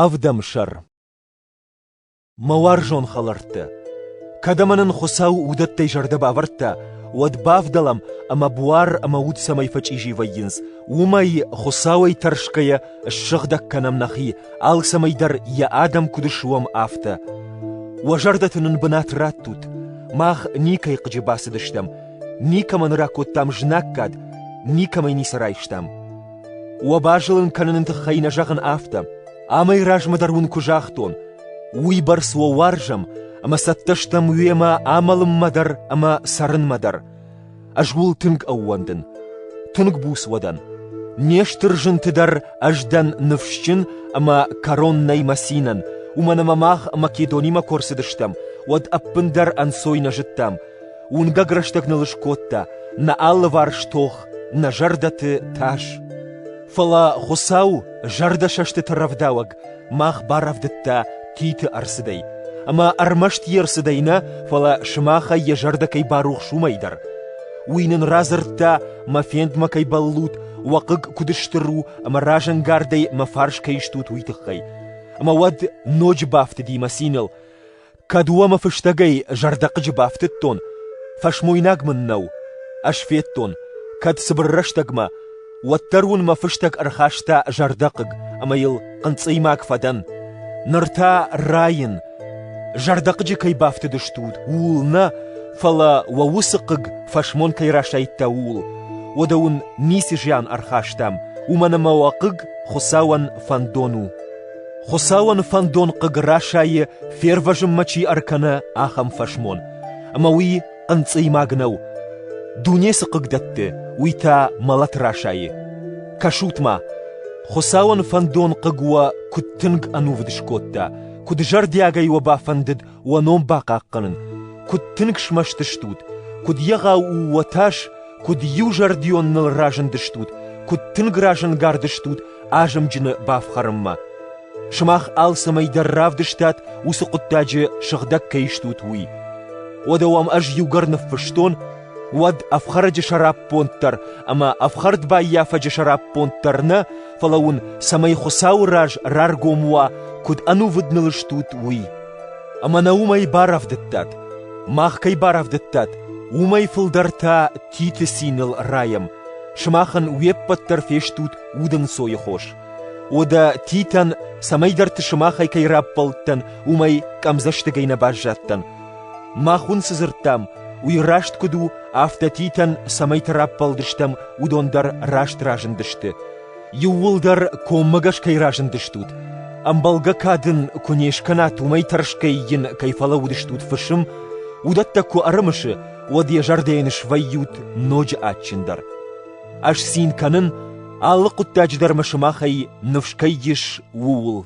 Ӕвдӕмсӕр Мӕ уарзон хӕлӕрттӕ, кӕд ӕмӕ нын Хуыцау уыдӕттӕй зӕрдӕ бавӕрдта, уӕд бавдӕлӕм, ӕмӕ буар ӕмӕ уд цӕмӕй фӕчъизи вӕййынц, уымӕй, Хуыцауӕй тӕрсгӕйӕ, ссыгъдӕг кӕнӕм нӕхи, алцӕмӕй дӕр йӕ адӕм куыд суӕм, афтӕ. Уӕ зӕрдӕты нын бынат раттут. Мах никӕй хъыджы бацыдыстӕм, никӕмӕн ракодтам знаггад, никӕмӕй ницы райстам. Уӕ базылын кӕныны тыххӕй нӕ зӕгъын афтӕ, амӕй размӕ дӕр уын куы загътон, уыйбӕрц уӕ уарзӕм, ӕмӕ цӕттӕ стӕм уемӕ амӕлынмӕ дӕр ӕмӕ цӕрынмӕ дӕр. Ӕз уыл тынг ӕууӕндын. Тынг буц уӕ дӕн. Не стыр зынты дӕр ӕз дӕн ныфсджын ӕмӕ кӕрон нӕй мӕ цинӕн, уымӕн ӕмӕ мах Македонимӕ куы ӕрцыдыстӕм, уӕд ӕппындӕр ӕнцой нӕ зыдтам. Уынгӕг рӕстӕг ныл скодта нӕ алыварс тох, нӕ зӕрдӕты тас. Фӕлӕ Хуыцау, зӕрдӕсӕстыты рӕвдауӕг, мах барӕвдыдта Титы ӕрцыдӕй, ӕмӕ ӕрмӕст йе рцыдӕй нӕ, фӕлӕ сымахӕй йӕ зӕрдӕ кӕй барухс уымӕй дӕр. Уый нын радзырдта, мӕ фендмӕ кӕй бӕллут, уӕ хъыг куыд стыр у ӕмӕ разӕнгардӕй мӕ фарс кӕй стут, уый тыххӕй. Ӕмӕ уӕд ноджы бафтыди мӕ циныл, Кӕд уомӕ фӕстагӕй зӕрдӕхъыджы бафтыдтон, фӕсмойнаг мын нӕу, ӕз федтон, кӕд цыбыр рӕстӕгмӕ, уӕддӕр уын мӕ фыстӕг ӕрхаста зӕрдӕхъыг ӕмӕ йыл хъынцъыймаг фӕдӕн. Ныр та райын, зӕрдӕхъыджы кӕй бафтыдыстут, ууыл нӕ, фӕлӕ уӕ уыцы хъыг фӕсмон кӕй расайдта, ууыл. Уӕдӕ уын ницы зиан ӕрхастам, уымӕн ӕмӕ уӕ хъыг Хуыцауӕн фӕндон у. Хуыцауӕн фӕндон хъыг расайы, фервӕзынмӕ чи ӕркӕны, ахӕм фӕсмон. Ӕмӕ уый хъынцъыймаг нӕу. Дуне цы хъыг дӕтты, уый та мӕлӕт расайы. Кӕсут-ма, Хуыцауӕн фӕндон хъыг уӕ куыд тынг ӕнувыд скодта, куыд зӕрдиагӕй уӕ бафӕндыд уӕ ном бахъахъхъӕнын, куыд тынг смӕсты стут, куыд егъау у уӕ тас, куыд иузӕрдион ныл разындыстут, куыд тынг разӕнгардыстут азымджыны бафхӕрынмӕ. Сымах алцӕмӕй дӕр равдыстат, уыцы хъуыддаджы сыгъдӕг кӕй стут, уый. Уӕдӕ уӕм ӕз иугӕр ныффыстон, уӕд ӕфхӕрӕджы сӕраппонд дӕр ӕмӕ ӕфхӕрд баййафӕджы сӕраппонд дӕр нӕ, фӕлӕ уын, цӕмӕй Хуыцауы раз раргом уа, куыд ӕнувыд ныл стут, уый. Ӕмӕ нӕ уымӕй барӕвдыдтат. Мах кӕй барӕвдыдтат, уымӕй фылдӕр та Титы циныл райӕм. Сымахӕн уе ппӕт дӕр фестут удӕнцойы хос. Уӕдӕ Титӕн, цӕмӕйдӕрты сымахӕй кӕй раппӕлдтӕн, уымӕй къӕмдзӕстыгӕй нӕ баззадтӕн, Мах уын цы дзырдтам, уый раст куыд у, афтӕ Титӕн, цӕмӕйты раппӕлдыстӕм, уыдон дӕр раст разындысты. Иууылдӕр коммӕгӕс кӕй разындыстут, ӕмбӕлгӕ кад ын куы не скӕнат, уымӕй тӕрсгӕй йын кӕй фӕлӕууыдыстут фысым, уыдӕттӕ куы ӕрымысы, уӕд йӕ зӕрдӕйӕн свӕййут ноджы адджындӕр. Ӕз цин кӕнын, алы хъуыддаджы дӕр мӕ сымахӕй ныфс кӕй ис, ууыл.